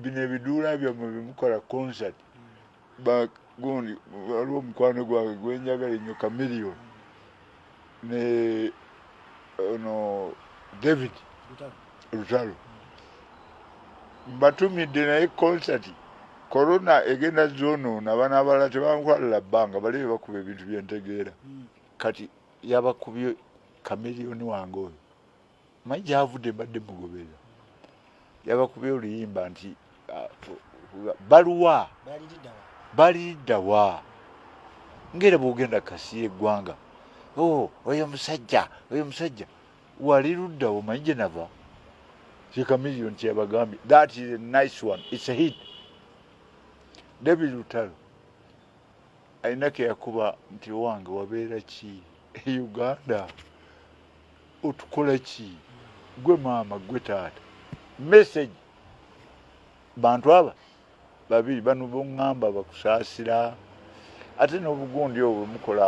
bino ebiduula byammwe bimukola concert bagundi waliwo omukwano gwange gwenjagala enyo kamilion ne ono david lutalo mbatumidde naye concert corona egenda zonoona abana abalala tebankwalala bbanga bali bebakuba ebintu byentegeera hmm. kati yabakubye kamilioni wange oyo manyi gyavudde mbadde mugoberera yabakubye oluyimba nti ah, baluwa baliddawa ngaera bwogenda kasiya eggwanga o oh, oyo musajja oyo musajja wali luddawo manyi gye nava kikamilio nti yabagambye that is a nice one its a hit david lutalo alina keyakuba nti owange wabeera ki e uganda otukola ki gwe maama gwe taata message bantu aba babiri bano boŋŋamba bakusaasira ate n'obugundi obwo mukola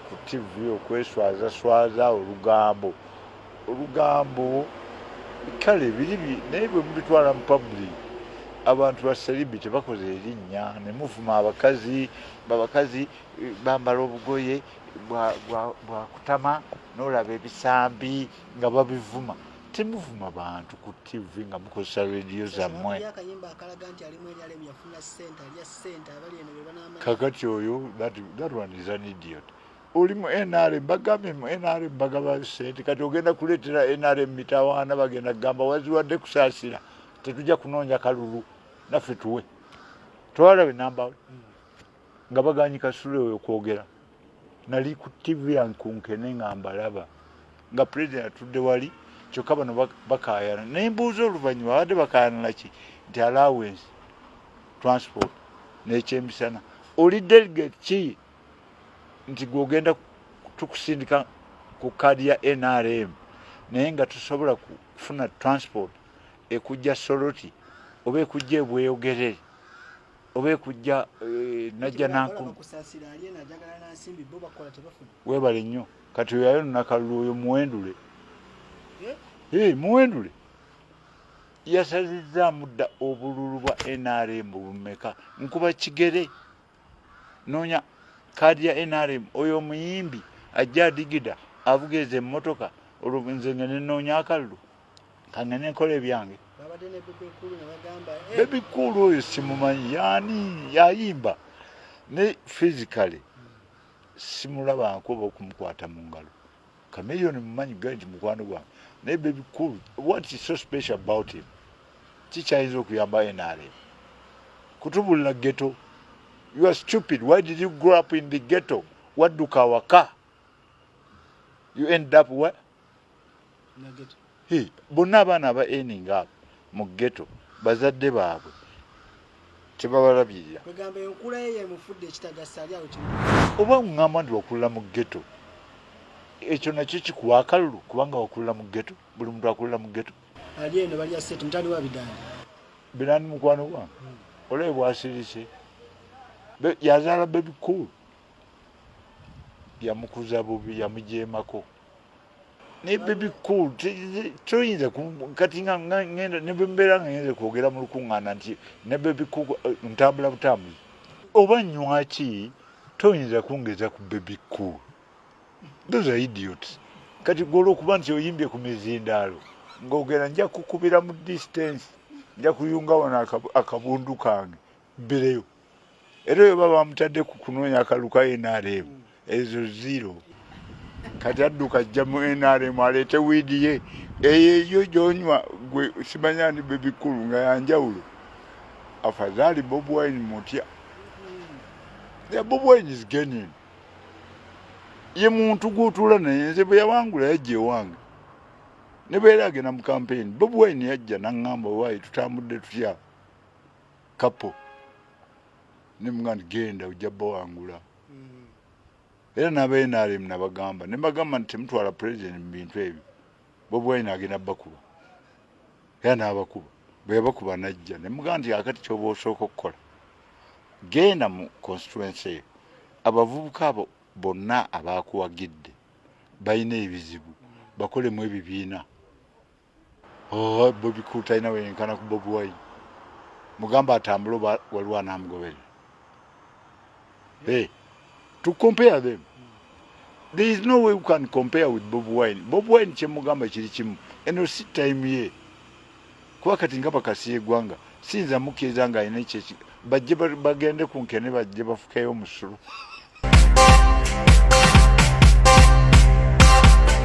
ku tivi okweswazaswaza olugambo olugambo kale biri naye bwe mubitwala mu public abantu basalibi tebakoze erinnya ne muvuma abakazi babakazi eh, bambala obugoye bwakutama nolaba ebisambi nga babivuma temuvuma bantu ku tv nga mukozesa rediyo zammwe kakati oyo that one is an idiot oli mu nrm bagambye mu nrm bagaba sente kati ogenda kuleetera nrm mitawaana bagenda kugamba waziwadde kusaasira tetujja kunoonya kalulu naffe tuwe twalabe nambawe nga baganyi kasule oyo kwogera nali ku tv yankunkene nga mbalaba nga president atudde wali kyokka bano bakayana naye mbuuza oluvannyuma babadde bakayana naki nti allowance transport nekyemisana oli delegate ki nti gwogenda tukusindika ku kaadi ya nrm naye nga tusobola kufuna transport ekujja soloti oba ekujja ebweyogerere oba ekujja eh, najja nankumu webale nnyo kati oyayo nnakalulu oyo muwendule eh? Eh, muwendule yasazizzaamu dda obululu bwa nrm bumeka nkuba kigere noonya kaadi ya nrm oyo omuyimbi ajja adigida avuga ezo emmotoka olwo nze nga nenoonya akalulu kangende enkola ebyange bebi kuulu oyo simumanyi yani yayimba ne physically simulabanko oba okumukwata mu ngalo kameyoni mumanyi gai nti mukwano gwange naye bebi kuulu what is so special about him kikyayinza okuyamba nrm kutubulira geto you are stupid why did you grow up in the geto wadduka awaka you end up what bonna abaana aba ening abo mu geto bazadde baabwe tebabalabirira oba ŋŋamba nti wakulira mu geto ekyo nakyo kikuwa akalulu kubanga wakulira mu geto buli muntu akulira mu geto birani mukwano gwange hmm. olabe bwasirise yazaala bebikuulu yamukuza bubi yamujeemako naye bebi cool toyinza kati nga ngenda nebembeera nga ngenze kwogera mu lukuŋŋaana nti ne bebi cool eh, ntambula butambuzi oba nywaki toyinza kungeza ku bebi cool those are idiots kati gwe olwokuba nti oyimbye ku mizindaalo ng'ogera nja kukubira mu distance nja kuyunga wano akabundu kange mbireyo era oyo baba bamutadde ku kunoonya akalu ka nrm ezo zero kati adduka ajja mu nrm aleete wiidi ye eyeyo gyonywa gwe simanya ndi bebikulu nga yanjawulo afadhali bob wine mutya the bob wine is genin ye muntu gwotula naye nze bwe yawangula yajja ewange nebeera agenda mu kampeyini bob wine yajja naŋŋamba waayi tutambudde tutya kapo ne muganda genda ojja bawangula mm. era naba nrm nabagamba nebagamba nti temutwala president mu bintu ebyo bobi wine agenda bakuba era nabakuba bweyabakuba najja nemugamba nti akati kyoba osooka okukola genda mu constituency eyo abavubuka abo bonna abakuwagidde balina ebizibu bakolemu ebibiina oh, bobi cool talina weyenkana ku bobi wine mugamba atambule oba waliwo anamugobere hey, to compare them there is no way you can compare with bobi wine bobi wine kyemugamba kiri kimu eno si time ye kuba kati nga bakasiya egwanga siyinza mukkiriza nga alina ekyeki bajje bagende ku nkene bajje bafukeyo omusulu